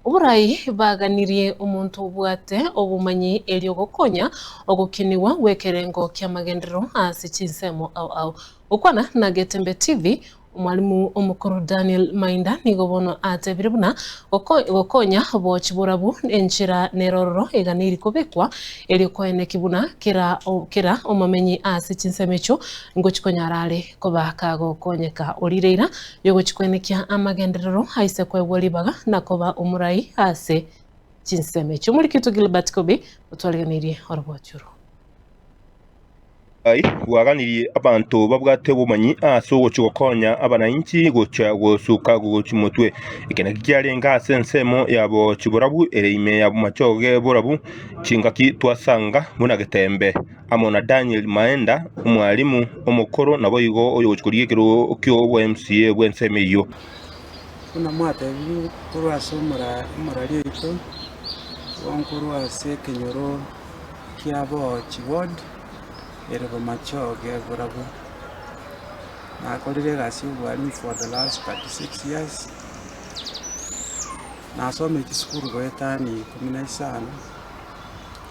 Oborai baganirie omonto obwate obomanyi erio gokonya ogokinigwa gw'ekerengo ki'amagenderero ase chinsemo ao ao. Gokwana na Getembe TV, Omwalimu omokoro Daniel Mainda nigo bono atebire buna gokonya boochi borabu enchera nerororo eganiri kobekwa erio koene ki buna kera omomenyi ase chinsemo echio ngochi konyara are Kobaaka gokonyeka orire eira y'ogochia kwenekia amagenderero aise kwaigwa ribaga na koba omorai ase chinsemo echio. Omoriki oito Gilbert Kobe otwarigereirie oroboocho orwo. Nyasae bwaganirie abanto babwate obomanyi ase ogochia gokonya abanainchi gochia gosuka gochia motwe. Eke nakio kiarenge ase ensemo yabo chiborabu ere ime y'amachoge borabu chingaki twasanga buna getembe amo na Daniel Maenda, omwalimu omokoro naboigo oyogochia korigia ekerogo ki'obwa MCA bw'ensemo eyio. Buna mwatebirie korwa ase emorari yaito, korwa ase ekenyoro kia Boochi Ward ere Bomachi oge Burabwo. Nakorire egasi y'obwalimu for the last 36 years. Nasomire chisukuru goetania ikomi na isano.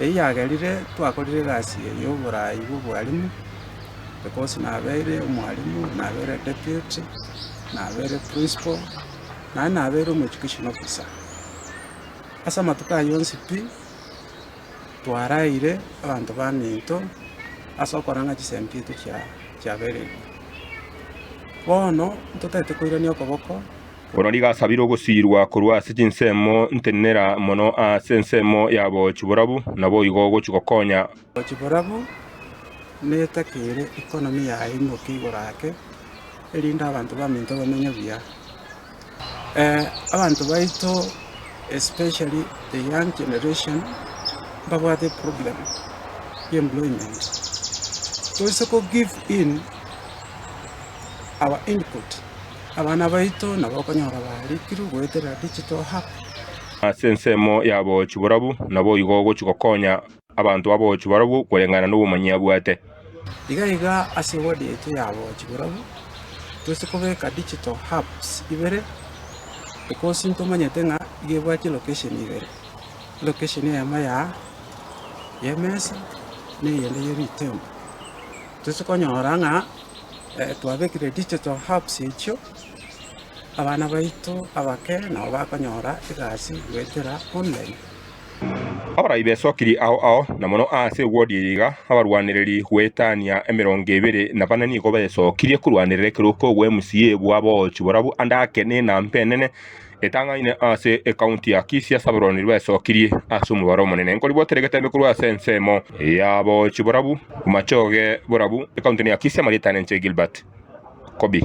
eyagerire twakorire egasi eye y'oboraai bw'obwalimu, ecourse nabeire omwalimu, nabeire deputy, nabeire principal, naende nabeire omo education officer. Ase amatuko ayio onsi pi, twaraeire abanto baminto ase okora ng'a chisemi chiaito chia chiabereire. Bono, ntotagete koirania okoboko. Bono rigasabire ogosiirwa korwa ase chinsemo ntenenera mono ase ensemo ya boochi borabu, naboigo ogochia gokonya. Boochi borabu, netakere economy yaye imoke igoro ake, erinde abanto baminto bamenye buya. Abanto baito especially the young generation mbabwate eproblem ya employment, toise kogive in our input. Abana baito nabo okonyora baarikirwe goetera digital hub. Ase ensemo y'aboochi borabu naboigo ogochia gokonya abanto b'aboochi barabwo koreng'ana nobomanyi abwate. Iga iga ase ewodi yaito y'aboochi borabu toise kobeka digital hubs ibere, ecosi ntomanyete ng'a iga ebwati location ibere, location eyemo ya y'emesa na eyende ye ritembo. Toise konyora ng'a twabekire digital herbs echio, abana baito abake nabo bakonyora egasi goetera online. Abarai besokiri ao ao, na mono aase ewodi eye iga, abarwanereri goetania emerongo ebere na bane nigo besokirie korwanerera ekerogo kogwa MCA bwa Boochi borabu ande ake ne enambe enene. Etang'aine ase ekaunti ya Kisii ase abarwani baesokirie ase omobaro omonene nkoribwatera egetembe korwa ase ensemo yabochi borabu, Omachoge borabu, ekaunti ya Kisii amarieta nenche Gilbert Kobi.